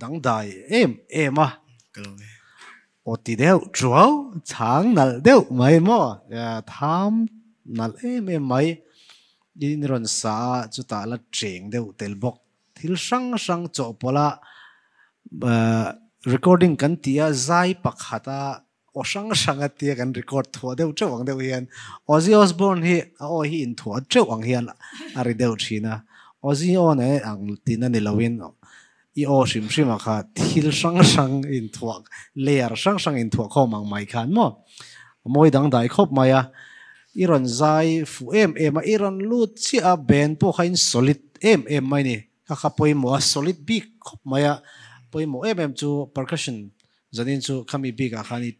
Dangdai em em a, aw ti deuh ṭuau, chhang nalh deuh mai maw, tham nalh em em mai, i ni rawn sa a, chutah la ṭeng deuh tel bawk, thil hrang hrang chawhpawlha recording kan tih a zai pakhata Aw hrang hrang a tia kan record thuah deuh teuh ang deuh hian Ozzy Osbourne hi a awi hi inthuah teuh ang hian a ri deuh thin a, Ozzy aw na e ang tiin a ni lo in i aw hrim hrim a kha thil hrang hrang inthuah layer hrang hrang inthuah khawm ang mai khan maw a mawi dangdai khawp mai a, i rawn zai fuh em em a, i rawn lut chiah a, band pawh kha in solid em em mai ni, kha kha pawimawh a solid bik khawp mai a, pawimawh em em chu percussion Zanin chu khami bik ah khan i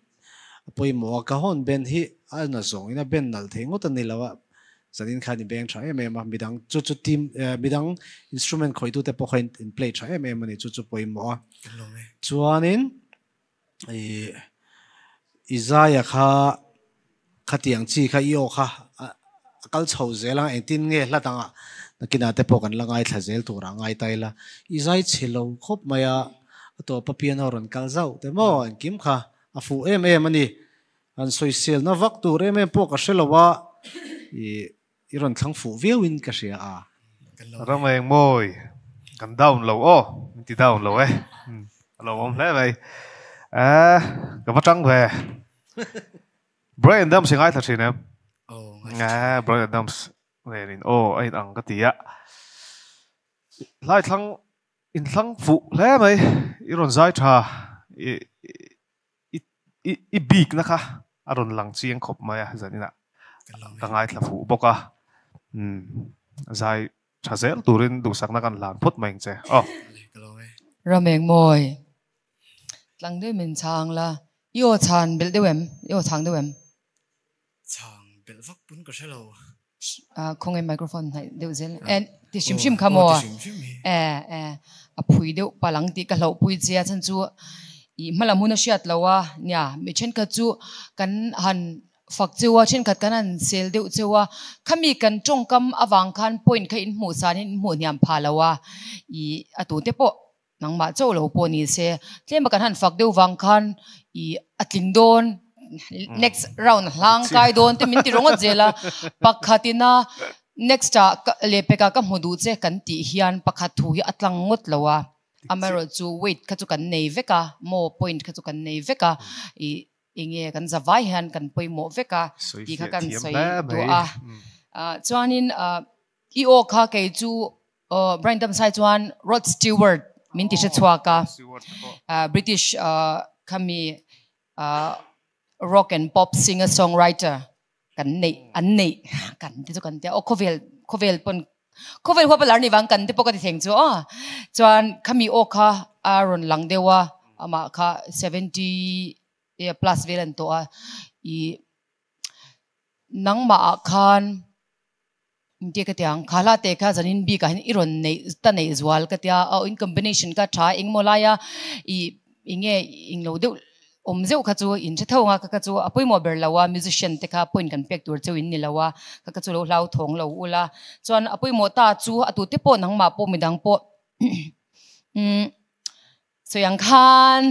pawimawh a, ka hawn ben hi a na zawng in a ben nal thei ngawt a ni lo a, zanin khan i beng tha em em a, midang chu chu team midang instrument khawi tu te pawh khan in play tha em em a ni chu chu pawimawh a, chuan in i Isaiah kha. Khatiang chi kha i aw kha a kal chho zel ang, engtin nge hla dangah nakina te pawh kan la ngaithla zel turah ngai ta ila i zai chhi lo khawp mai a, a tawpa piano rawn kal zauh teh maw engkim kha a fuh em em a ni, han sawi silna vak tur em em pawh ka hre lo a, i. I rawn thlang fuh viau in ka hria a. Ram a engmawi kan down lo aw min ti down lo e a lo awm hle mai a ka va tang ve Bryan Adams i ngaithla thin em a Bryan Adams nen in aw a in ang ka ti a hlai thlang in thlang fuh hle mai i rawn zai tha i I i bikna kha a rawn lang chiang khawp mai a, zaninah ka ngaithla fuh bawk a, umm zai tha zel turin duhsakna kan hlan phawt mai ang che aw. Rameng mawi, tlang deuh min chhang la, i aw chhan belh deuh em? I aw chhang deuh em? Chhang belh vak pun ka hre lo. Ahh khaw ngei microphone hnaih deuh zel e. Ahh ti hrim hrim kha maw? Ahh ahh a phui deuh palh ang tih ka hlauh pui che a chhan chu ih hmalam hun a hriat lo a nia mi thenkhat chu kan han fak cheu a thenkhat kan han sel deuh cheu a khami kan tawngkam avang khan point kha inhmuh san in inhmuh hniam pha lo a ih a tute pawh Nangmah chauh lo pawh ni se, tlem a kan han fak deuh vang khan i a tling dawn, next round a hlang kai dawn tih min ti rawngawt zel a, pakhat ina next a leh pek ah ka hmu duh che kan tih hian pakhat thu hi a tlang ngawt lo a, amaherawh chu weight kha chu kan nei vek a, maw point kha chu kan nei vek a, i eng nge kan za vai hian kan pawimawh vek a tih kha kan sawi duah a, chuan in i aw kha kei chu Aw, Brian Damsai chuan Rod Stewart min ti hre chhuak a, British khami rock and pop singer song writer kan neih an neih kan te chu kan tia aw khawvel khawvel pawn khawvel huapa lar ni vang kan te pawh ka ti theng chu aw chuan khami aw kha a rawn lang deuh a amah kha seventy plus vel an tawh a i nangmah ah khan Engtie ka tia, kha hla teh kha zanin bik ah hin i rawn neih ta neih zual ka tia, aw in combination ka tha a eng maw laia i i nge eng lo deuh awm zeuh kha chu in hre tho ang a, ka ka chu a pawimawh ber lo a musician te kha point kan pek tur chu in ni lo a, ka ka chu lo hlauthawng lo ulh a, chuan a pawimawh ta chu a tu te pawh nangmah pawh midang pawh umm sawi ang khan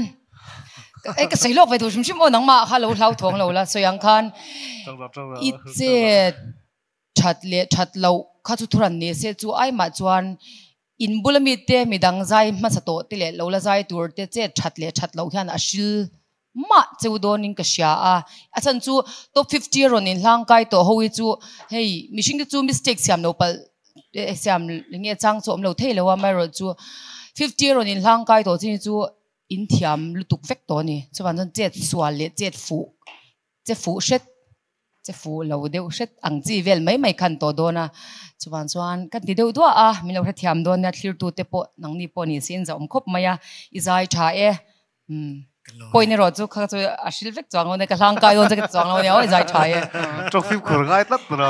ai ka sawi lawk ve tur hrim hrim aw nangmah kha lo hlauthawng lo la sawi ang khan i chet. That leh that loh kha chu thuran ni se chu ai mah chuan in bula mite mi dang zai hmasa tawh te leh lo la zai tur te che that leh that loh hian a hrilh mah cheu dawn in ka hria a, a chhan chu top fifty a rawn in hlang kai tawh ho hi chu hei mihring te chu mistake siam lo palh eh siam nge chang chu awm lo thei lo a amaherawh chu fifty a rawn in hlang kai tawh chin hi chu in thiam lutuk vek tawh a ni chuan wan chuan chet sual leh chet fuh Che fuh hret, che fuh lo deuh hret ang chi vel mai mai kha an tawh dawn a, chuvang chuan ka ti deuh duah a, min lo hrethiam dawn nia, thlirtute pawh nangni pawh ni si in zahawm khawp mai a, i zai tha e, umm, pawhin erawh chu kha chu a hrilh vek chuang lo nia, ka hlang kai dawn chu ka ti chuang lo nia, aw i zai tha e. Tawk fim khur ngai tlat a lo.